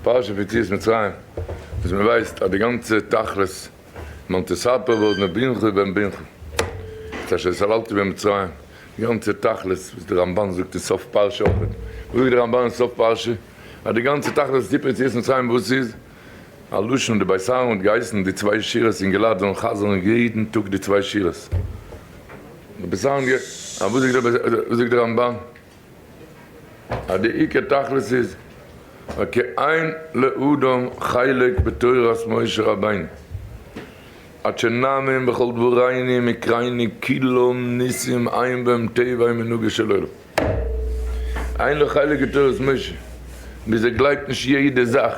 פרשת יציאת מצרים, וואס מען ווייסט אז די גאנצע תכלית מאן תספר ועוד מבינך ובן בינך, את אשר סללתי במצרים, די גאנצע תכלית וואס די רמבן זאגט אין סוף פרשה אויך, וואס זאגט די רמבן אין סוף פרשה? אז די גאנצע תכלית פון סיפור יציאת מצרים וואס איז? א לשון די בית אהרן האט געהייסן די צוויי שורות אין געלאט זאלן חזר'ן יעדן טאג די צוויי שורות, די בית אהרן, אז וואס זאגט די רמבן? אז די עיקר תכלית איז וכי אין לאדם חלק בתורת משה רבינו עד שנאמין בכל דבורייני מקרייני כולם ניסים עיין בהם טבעי מנהגו של עולם אין לו חלק אין תורת משה ביז ער גלייבט נישט יעדע זאך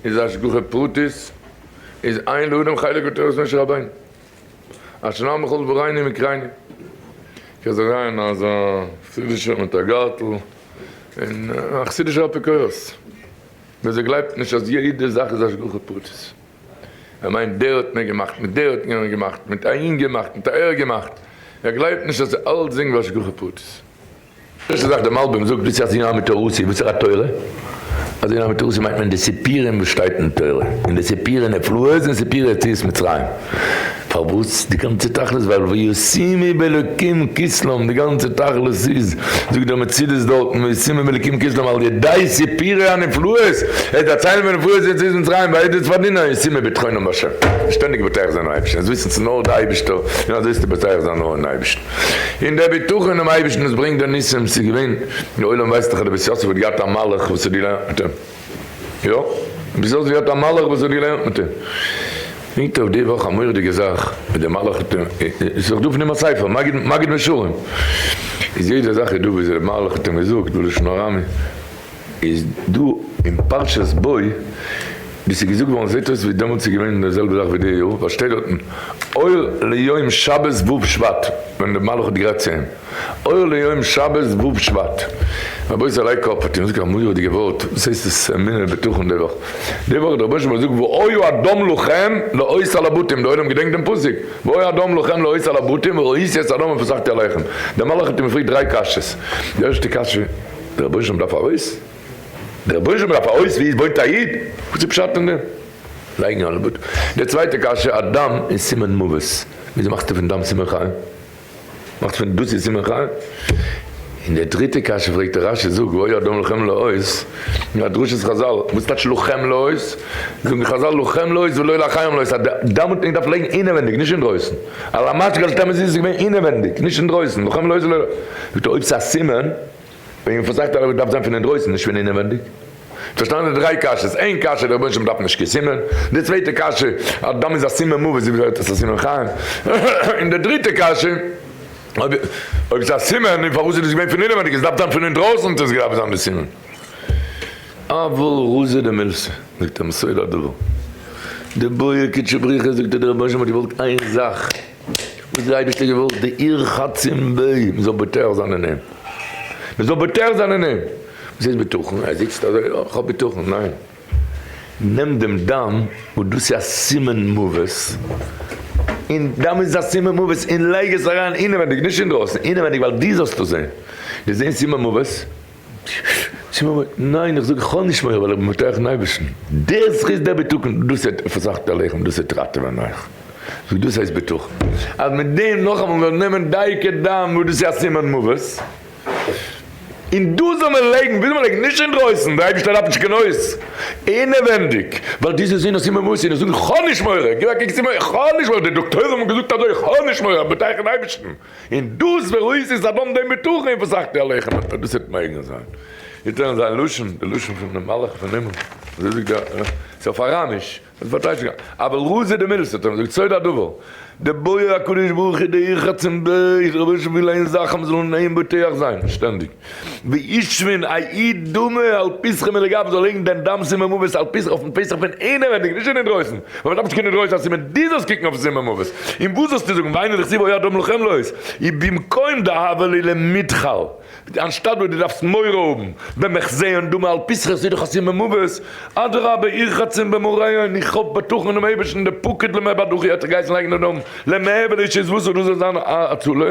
איז השגחה פרטית איז אין לאדם חלק בתורת משה רבינו. אשרי המחול וראיני מקריני. קענסט אריין אז א חסידישער מיט א גארטל און א חסידישער אפיקורס ווער ס'גלייבט נישט אז יעדע זאך איז השגחה פרטית ער מיינט דער האט מיר געמאכט מיט דער האט יענעם געמאכט מיט אהין געמאכט מיט אהער געמאכט ער גלייבט נישט אז אלץ זינג השגחה פרטית. דאס איז וואס די מלבים זאגט ווי ס'הייסט עניו מתורותי', וואס איז א תורה? אז עניו מתורותי' מיינט מען די סיפורים וואס שטייט אין תורה, און די סיפורי נפלאות און סיפורי יציאת מצרים, פארוואס די גאנצע תכלית ווייל וישימי באלקים כסלם די גאנצע תכלית איז זאגט דער מצידות דארטן וישימי באלקים כסלם על ידי סיפורי הנפלאות ער דערציילן פון נפלאות יציאת מצרים ועדות פארדינען און ישימי בטחונם בהשם שטענדיג בוטח זיין און אייבערשטן עס וויסן צו נאר די אייבערשטער און אזוי איז צו בוטח זיין נאר אין אייבערשטן. און דער בטחון אינעם אייבערשטן וואס ברענגט די ניסים, ס'איז געווען, דער עולם ווייסט דאך אז די בית יוסף האט געהאט א מלאך וואס האט געלערנט מיט אים, יא, די בית יוסף האט געהאט א מלאך וואס האט געלערנט מיט אים, היט אויף די וואך א מורא'דיגע זאך, ווי דער מלאך האט אים, איז דאך דא פון אים א ספר, מגיד מגד משרים, איז יעדע זאך איז דא ווי אזוי דער מלאך האט אים געזאגט בלשון ארמי. איז דא אין פרשת בוא ווי ס'איז געזאגט געווארן זעהט אויס ווי דעמאלטס איז געווען די זעלבע זאך ווי די יאר ווייל שטייט דארטן אור ליום שבת ו' שבט ווען די מלאך האט געגרייט צו אים אור ליום שבת ו' שבט רבותי זעליי קאפ האט אים געזאגט א מורא'דיגע ווארט וואס הייסט עס אמונה בטחון די וואך די וואך האט דער רבונו של עולם געזאגט והוי אדום לכם להויס על הבתים די עולם געדענקט דעם פסוק והוי אדום לכם להויס על הבתים וראיתי את אדום ופסחתי עליכם די מלאך האט אים געפרעגט דריי קשיות די ערשטע קשיא. די רבוש ע דארף א הויז? די רבוש ע דארף א הויז ווי עס וואוינט א איד? וואס איז פשט אין דעם לייגן א לבוד? די צווייטע קשיא א דם איז סימן מוות וויאזוי מאכסטו פון דם סימן חיים? מאכסט פון דאס איז סימן חיים? און די דריטע קשיא פרעגט דער רשי זאג והוי אדם לוחם לעוז א דרשת חזל וואס טייטש לוחם לעוז? זאגן חזל לוחם לעוז ולא לחיים לעוז אז די דם האט מען געדארפט לייגן אינעווענדיג נישט אינדרויסן על המשקה אל תמזיז איז געווען אינעווענדיג נישט אינדרויסן לוחם לעוז ולא זאגט ער אויב ס'איז א סימן וועגן פון סך תערובות דארף זיין פון אינדרויסן נישט פון אינעווענדיג. פארשטאנען די דריי קשיות, איין קשיא דער רבונו של עולם דארף נישט קיין סימן, די צווייטע קשיא אז דם איז א סימן מוות וויאזוי ווערט עס א סימן חיים, און די דריטע קשיא אויב אויב עס איז א סימן און פארוואס איז עס געווען פון אינעווענדיג עס דארף זיין פון אינדרויסן צו עס געדארפט זיין די סימן. אבל רזא דמילסא זאגט א מסור הדבר, די בויער קודשא בריך ע זאגט אז דער רבונו של עולם האט געוואלט איין זאך, וואס האט די אייבערשטער געוואלט? די עיר חצים ב, מען זאל בוטח זיין אין אים, מען זאל בוטח זיין אין אים, וואס הייסט בטחון? ער זיצט אזוי, יא איך האב בטחון, ניין, נעם דעם דם וואס דאס איז א סימן מוות, און דם איז א סימן מוות, און לייג עס אריין אינעווייניג, נישט אינדרויסן, אינעווייניג, ווייל דו זאלסט עס זען, דו זען סימן מוות? צו מיר, ניין איך זאג כ'האב נישט מורא ווייל איך בין בטוח אין אייבערשטן, דער זכות דער בטחון דאס וועט פסח'ט עליכם דאס וועט ראטעווען אייך, זאג דאס הייסט בטחון אז מיט דעם נאכאמאל מיר נעמען דייקא דאן וואס דאס איז א סימן מוות און דאס זאל מען לייגן וויל מען לייגן נישט אינדרויסן דער אייבערשטער דארף נישט קיין הויז אינעווענדיג ווייל דאס איז זען א סימן מוות און איך זאג כ'האב נישט מורא גיב א קוק איך האב נישט מורא די דאקטוירים האבן געזאגט אזוי כ'האב נישט מורא כ'בין בטוח אין אייבערשטן. און דאס וואויס איז אדם דעם בטחון וואס אכ פ עליכם אויב דאס וועט מעגליך זיין איז דען זיין לשון די לשון פון די מלאך פון הימל אזוי זאגט דער ר ת אויף אראמיש וואס באדייט שוין גאר אבל ר' זיע די מילות האט ער געזאגט סוד הדבר דער בורא הקדוש ברוך הוא דער איך רצון בעי ס רבונו של עולם וויל איין זאך אז מ'זאל אין איין בוטח זיין שטענדיג. וישבין א איד דמעה על פסחו מלגב זאל לייגן דעם דם סימן מוות על פסח אויפן פסח פון אינעווענדיג נישט פון אינדרויסן ווייל מען דארף נישט קיין אינדרויסן אז סימן דו זאלסט קוקן אויפן סימן מוות און וואס זאלסטו זאגן ואינו דכתיב הוי אדם לחם לו איז אי במקום דהוה לי למתחל אנשטאט וואס דו דארפסט מורא האבן במחזיון דמעה על פסחו עס איז דאך א סימן מוות אדרבה איר חצים במראיון איך האף בטחון אינעם אייבערשטן דער פוקד למעבדך האט זיך געהייסן לייגן דעם דם למעבד איז שוין וואס און דאס זאל זיין א הצלה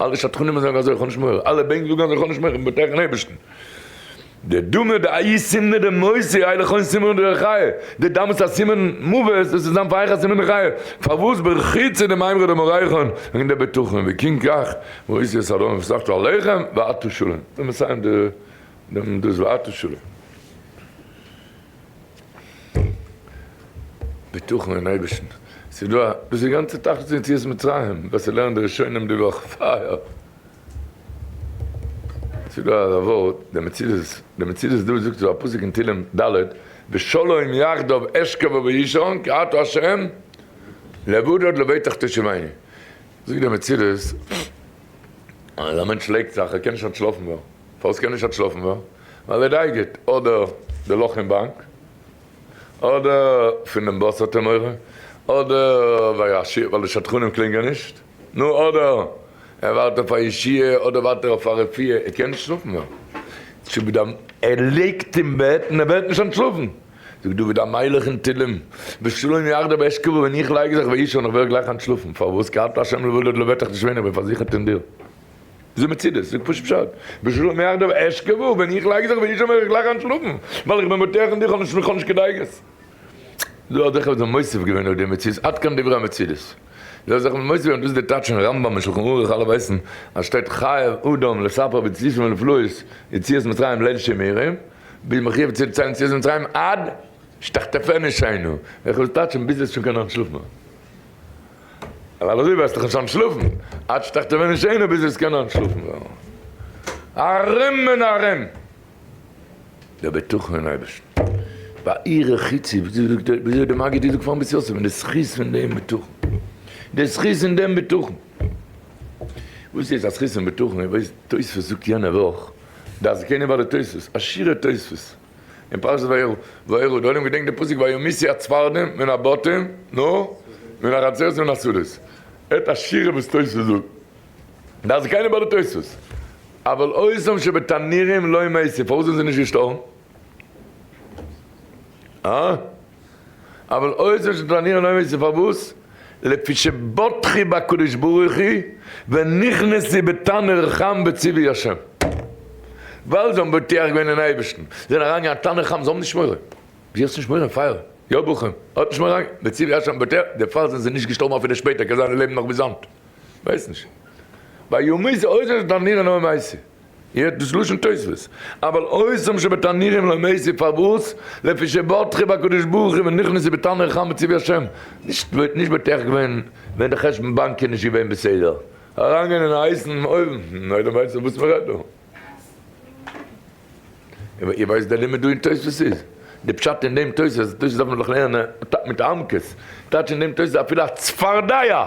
אלע שדכנים זאגן אזוי, איך האב נישט מורא, אלע בענק זאגן אז איך האב נישט מורא, איך בין בטוח אין אייבערשטן. די דומא דאי' סימנא דמוסי אי לכהן סימנא דרחיה, די דאמאלס א סימן מוות, דאס איז דאן פאר אייך א סימן דחיה, פארוואס ברחיצה דמאימרא דמאורייחן, וועגן די בטחון, וכן כך מאיסור סדום וסחטו עליכם ואתו שלום, און מסיים דעם דאס ואתו שלום. בטחון אין אייבערשטן, ס'איז דא א. דאס איז גאנצע תכלית פון יציאת מצרים, וואס ער לערנט די ראשונים די וואך, פייער! ס'איז דא א ווארט, די מציבות, די מציבות דא זאגט דא א פסוק אין תהילים ד', ושלום יחדיו אשכב ואישן, כי אתה השם לבדד לביתך תשובייני. זאגט די מציבות, אז א מענטש לייגט זיך, ער קען נישט אנטשלאפן מער. פארוואס קען נישט האט שלאפן ווען? ווייל ער דייגערט אדער די לאך אין באנק, אדער פון דעם באס האט ער מורא, אדער וישיר ווייל די שדכנים קלינגען נישט, נו אדער ער ווארט אויף א ישיעה, אדער ווארט ער אויף א רפואה, ער קען נישט שלאפן ווען? זאג דוד המ. ער ליגט אין בעט און ער ווערט נישט אנטשלאפן. זאג דוד המלך אין תהלים, בשלום יחדיו אשכבו ווען איך לייג זיך ואישן און איך ווער גלייך אנטשלאפן, פארוואס כי אתה ה' לבדד לבטח נישט ווען איך בין פארזיכערט אין דיר. איז ער מצידס, זאג פשוט פשט, בשלום יחדיו אשכב, ווען איך לייג זיך ווי איש אומר איך גלייך אן שלאפן, ווייל איך בין בטוח אין דיך און איך האב נישט קיין דאגות. דא האט זיך עפעס מוסיף געווען אויף די מצידס, עד כאן דברי המצידס. דא האט זיך עפעס מוסיף געווען, דאס איז די טייטש אין רמב ם און שלחן ערוך, אלע ווייסן אז שטייט חייב אדם לספר בצדיקים ולפלאות יציאת מצרים ליל שימורים, ביז מ'האט אויף צו דערציילן יציאת מצרים עד שתחטפני שינו, איך האב עס טייטשן ביז עס איז שוין קיין אן שלאף מער. ווייל אזוי וועסטו נישט אנטשלאפן, עד שתחתמם איש עיניו ביז וועסט קענען אנטשלאפן ווערן ארעם און ארעם. דער בטחון אין אייבערשטן, בעיר החיצי, וויאזוי זאגט דער, וויאזוי האט דער מגיד געזאגט פארן בית יוסף, די זכות פון דעם בטחון, די זכות אין דעם בטחון. וואס איז א זכות אין בטחון? איר ווייסט, תוספות זאגט יענע וואך, די אזקנים בעלי תוספות, א שיעור תוספות, אין פרשת וירא, דארט געדענקט די פסוק וימיסי הצפרדעים מן הבתים, נו, מן החצרות ומן השדות. את השירה וואס תוס' זאגט. דאס איז קיינער ביי די תוס'. אבל עושם שבתנירים לא מתים, פארוואס זענען זיי נישט געשטארבן? הא? אבל אויב זאלסטו פלאנירן אויב ווייסטו פארוואס, לפי שבטחי בקדוש ברוך הוא ונכנסי בתנור חם בציווי ה', ווייל זיי האבן בוטח געווען אין אייבערשטן, זיי זענען אריינגעגאנגען אין תנור חם, זיי האבן נישט מורא, ווי האסט נישט מורא? פייער, יא בוכים, האט נישט מורא, בציווי ה' האבן בוטח, דערפאר זענען זיי נישט געשטארבן אפילו שפעטער, קען זיין זיי לעבן נאך ביז היינט, ווייס נישט. ביי יומי זה אויב זאלסטו פלאנירן אויב ווייסטו. יעצט דאס לשון תוספות, אבל עושים שבתנורים לא מזיד פארוואס לפי שבטחו בקדוש ברוך הוא ונכנס זה בתנור חם בצבי השם, נישט וואלט נישט בטח געווען ווען די חשבון באנק איז נישט געווען בסדר, אריינגיין אין א הייסן אויוון, נו איידער ווייסט זיך וואס מען רעדט דא. איר ווייסט די לימוד דא אין תוספות איז? די פשט אין דעם תוספות, תוספות דארף מען דאך לערנען מיט עמקות, טייטש אין דעם תוספות אפילו א צפרדע!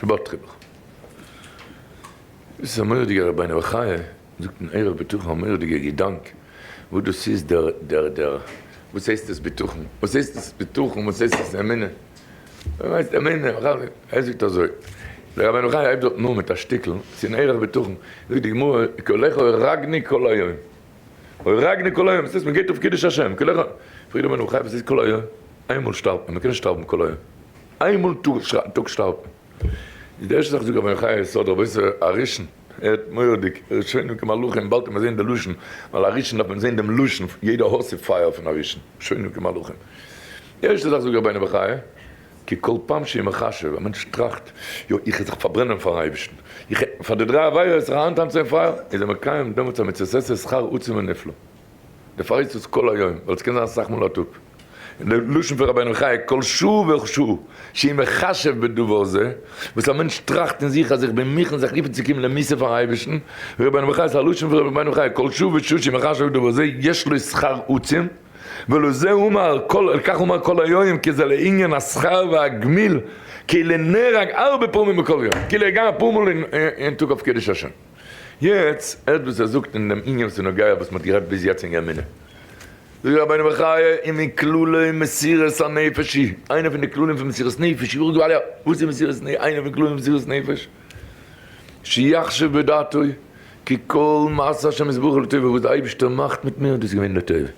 שבת חינוך דאס איז א מורא'דיגע רבינו בחיי זאגט אין עירוב בטחון א מורא'דיגע געדאנק וואס דאס איז דער דער דער וואס הייסט עס בטחון וואס הייסט עס בטחון וואס הייסט עס אמונה וואס הייסט אמונה ער זאגט אזוי דער רבינו בחיי הייבט דארטן אן מיט א שטיקל ס'איז אין עירוב בטחון זאגט די גמרא כי לכו אראגני כל היום אוי רגנא כל היום, ס'הייסט מ'גייט אויף קידוש השם כל היום, פרעגט דער מנח חי וואס איז כל היום? איינמאל שטארבט מען, מ'קען נישט שטארבן כל היום, איינמאל א טאג שטארבט מען, איז די ערשטע זאך זאגט רבינו חי ס'האט רבוש ע א ראשון, ער האט מורא'דיג, ראשונים כמלאכים, באלד קען מען זען די לשון, ווייל א ראשון דארף מען זען דעם לשון, יעדע האר ס'פייער פון א ראשון, ראשונים כמלאכים, די ערשטע זאך זאגט רבינו בחיי. כי כל פעם שהיא מחשב, א מענטש טראכט, יא, איך זיך פארברענען פארן אייבערשטן, איך העט פאר די דריי עבירות זיך אריינטאנצן אין פייער, איז ער מקיים דעמאלטס א מצוות עשה שכר עצום ונפלא. דערפאר הייסט עס כל היום, ווייל עס קען זיין אסאך מאל א טאג. און דער לשון פון רבינו חייא, כל שעה ושעה שהיא מחשב בדבר זה, וואס א מענטש טראכט אין זיך אז איך בין מוכן זיך ליפן צו קומען למסור פארן אייבערשטן, רבינו בחיי איז א לשון פון רבינו חייא, כל שעה ושעה שהיא מחשב בדבר זה יש לו שכר עצום, ולא זה אומר כל על כך אומר כל היום כי זה לעניין השכר והגמיל כאילו נהרג ארבע פעמים בכל יום כאילו ער גייט אפאר מאל אין טאג אויף קידוש השם יעצט הערט וואס ער זאגט אין דעם עניין וואס איז נוגע וואס מ'האט גערעדט ביז יעצט אין גרמינא זאגט רבינו בחיי און מכלולי מסירת הנפש היא איינע פון די כללים פון מסירת נפש יאך דו אליה וואס איז מסירת נפש איינע פון כללים פון מסירת נפש שיחשב בדעתו כי כל מעשה השם יתברך לטובה, וואס די אייבערשטער מאכט מיט מיר דאס איז געווען לטובה, עס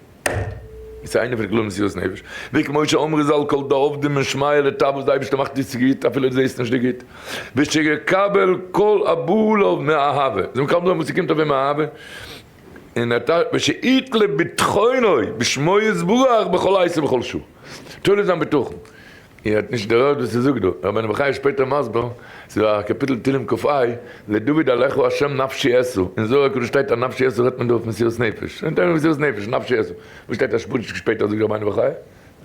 איז איינע פון די כללים מסירות נפש, וכמו שאמרו זל כל דעובדין מן שמיא לטב, וואס די אייבערשטער מאכט איז צו גוט אפילו דו זעסט נישט די גוט, ושיקבל כל הבא אליו מאהבה, זאל מקבל זיין וואס ס'קומט אויף אים מאהבה, און ער ושיט לב בטחונו בשמו יתברך בכל עת ובכל שעה, תולה זיין בטחון איר האט נישט דערהערט וואס ס'זאגט דא, ר' בן בחיי איז שפעטער מסביר, ס'איז דא א קאפיטל תהלים ק א, לדוד אליך ה' נפשי עשו, אין זוהר הקדוש שטייט אז נפשי עשו רעדט מען דא אויף מסירות נפש, אין תהלים מסירות נפש, נפשי עשו, וואס שטייט אז שפוטשק שפעטער זאגט ר' בן בחיי,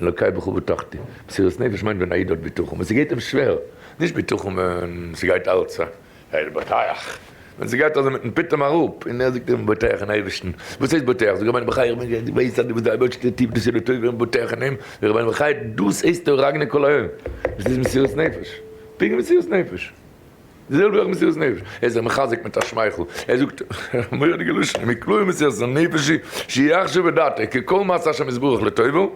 אלוקיי בכה ובטחתי, מסירות נפש מיינט ווען א איד האט בטחון ווען ס'גייט אים שווער, נישט בטחון ווען ס'גייט אלץ א. העי רבותיך, ווען זי גייט אזוי מיטן פיטום אראפ, און ער זאגט איר בוטח אין אייבערשטן, וואס הייסט בוטח? זאג רבינו בחיי איך בין געווען געוויס אז דו ביסט די אייבערשטע טיף דאס איז די טובה און בוטח אין אים, זאג רבינו בחיי דאס הייסט דו רגני כל העם, דאס איז מסירות נפש, פונקט מסירות נפש, די זעלבע ווי אויך מסירות נפש, ער איז זיך מחזק מיט א שמייכל, ער זאגט מורא'דיגע לשון, מקלוי מסירות נפשי שיחשב את דעתו כקול מאת השם יתברך לטובה,